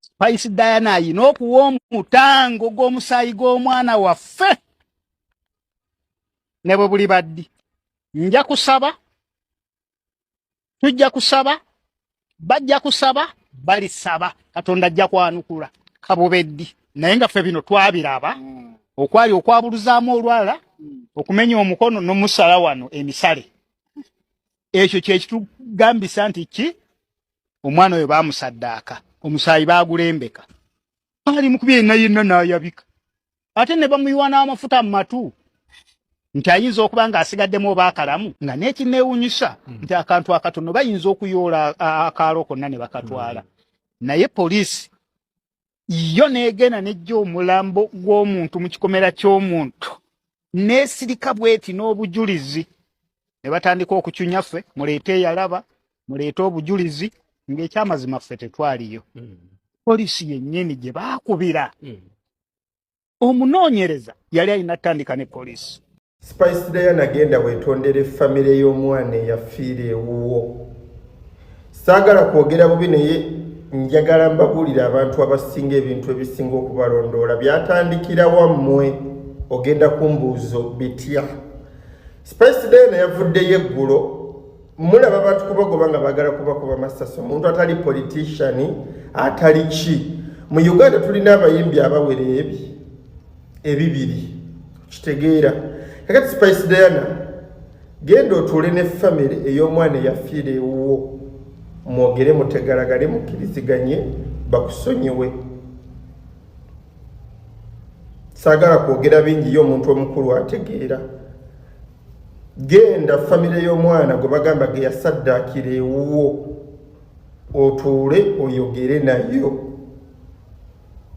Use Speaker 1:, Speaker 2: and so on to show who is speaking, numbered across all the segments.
Speaker 1: spice diana ayina okuwa omutango gw'omusaayi gw'omwana waffe ne bwe buli baddi nja kusaba tujja kusaba bajja kusaba balisaba katonda ajja kwanukula kabubeddi naye nga ffe bino twabiraba mm. okwali okwabuluzaamu olwala mm. okumenya omukono nomusala wano emisale ekyo kyekitugambisa nti ki omwana oyo bamusaddaaka omusaayi baagulembeka baali mukubi yenna yenna n'ayabika ate ne bamuyiwa n'amafuta mu matu nti ayinza okuba ng'asigaddemu oba akalamu nga n'ekineewunyisa hmm. nti akantu akatono bayinza okuyoola akaalo konna ne bakatwala hmm. naye poliisi yo negenda nejja omulambo gw'omuntu mu kikomera ky'omuntu nesirika bweti n'obujulizi ne batandika okucunya ffe muleete eyalaba muleete obujulizi ng'ekyamazima ffe tetwaliyo mm. polisi yennyini gye baakubira mm. omunoonyereza yali alina tandika ne polisi Spice Diana
Speaker 2: genda wetondere famire y'omwana eyafiira ewuwo. Saagala kwogera bubi naye njagala mbabuulire abantu abasinga ebintu ebisinga okubalondoola byatandikira wammwe ogenda kumbuuzo bitya. Spice Diana yavuddeyo eggulo mulaba abantu kubagoba nga baagala kubakuba masasi omuntu atali politician atali ki mu Uganda tulina abayimbi abawera ebyo ebibiri kitegeera kakati spice diana genda otuule ne famiry ey'omwana eyafiira ewuwo mwogere mutegalagale mukkiriziganye bakusonyiwe saagala kwogera bingi ye omuntu omukulu ategeera genda famire y'omwana gwe bagamba ge yasaddaakira ewuwo otuule oyogere nayo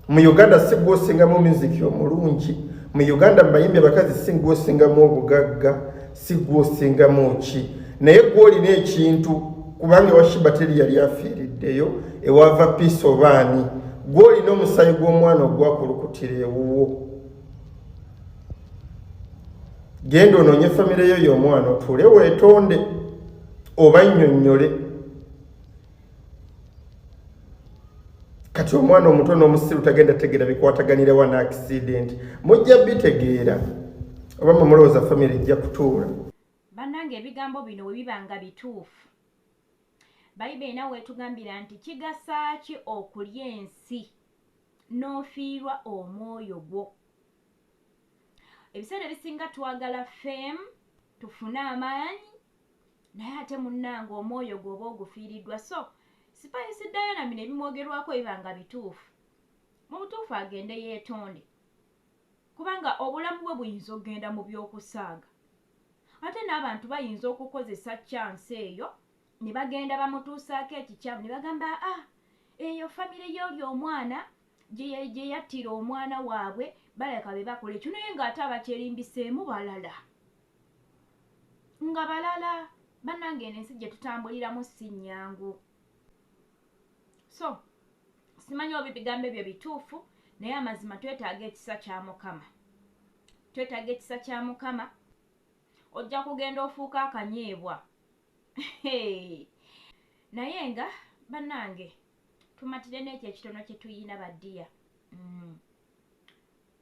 Speaker 2: mu uganda si gwosingamu miziki omulungi mu uganda mubayimbi abakazi si gwosingamu obugagga si gwosingamu ki naye gwolina ekintu kubanga ewashiba teri yali afiiriddeyo ewava piisi obaani gwolina omusayi gw'omwana ogwakulukutira ewuwo genda onoonye famireyo y'omwana otuule weetonde oba nnyonnyole kati omwana omuto n'omusiru tagenda tegeera bikwataganirawa na akisidenti mujja bitegeera oba mumulowooza famiry ejja kutuula bannanga
Speaker 3: ebigambo bino we biba nga bituufu bayibuli nawe etugambira nti kigasa ki okulya ensi n'ofiirwa omwoyo gwo ebiseera ebisinga twagala fame tufune amaanyi naye ate munnange omwoyo gwoba ogufiiriddwa so sipayisi diana bino ebimwogerwako biba nga bituufu mu butuufu agende yeetonde kubanga obulamu bwe buyinza okugenda mu by'okusaaga ate n'abantu bayinza okukozesa kyansi eyo ne bagenda bamutuusaako ekikyamu ne bagamba a ah, eyo famire y'oli omwana gye yattira omwana waabwe baleka be bakola ekyo naye ng'ate abakyerindiseemu balala nga balala banange eno ensi gyetutambuliramu si nyangu so simanyi oba ebigambo ebyo bituufu naye amazima twetaaga ekisa kya mukama twetaaga ekisa kya mukama ojja kugenda ofuuka akanyeebwa naye nga banange tumatire n'ekyo ekitono kyetuyina badiya mm.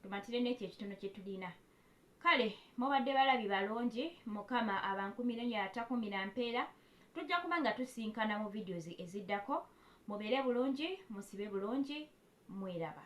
Speaker 3: tumatire n'ekyo ekitono kyetulina kale mubadde balabi balungi mukama abankumire nyo atakumira mpeera tujja kuba nga tusinkana mu videos eziddako mubeere bulungi musibe bulungi mweraba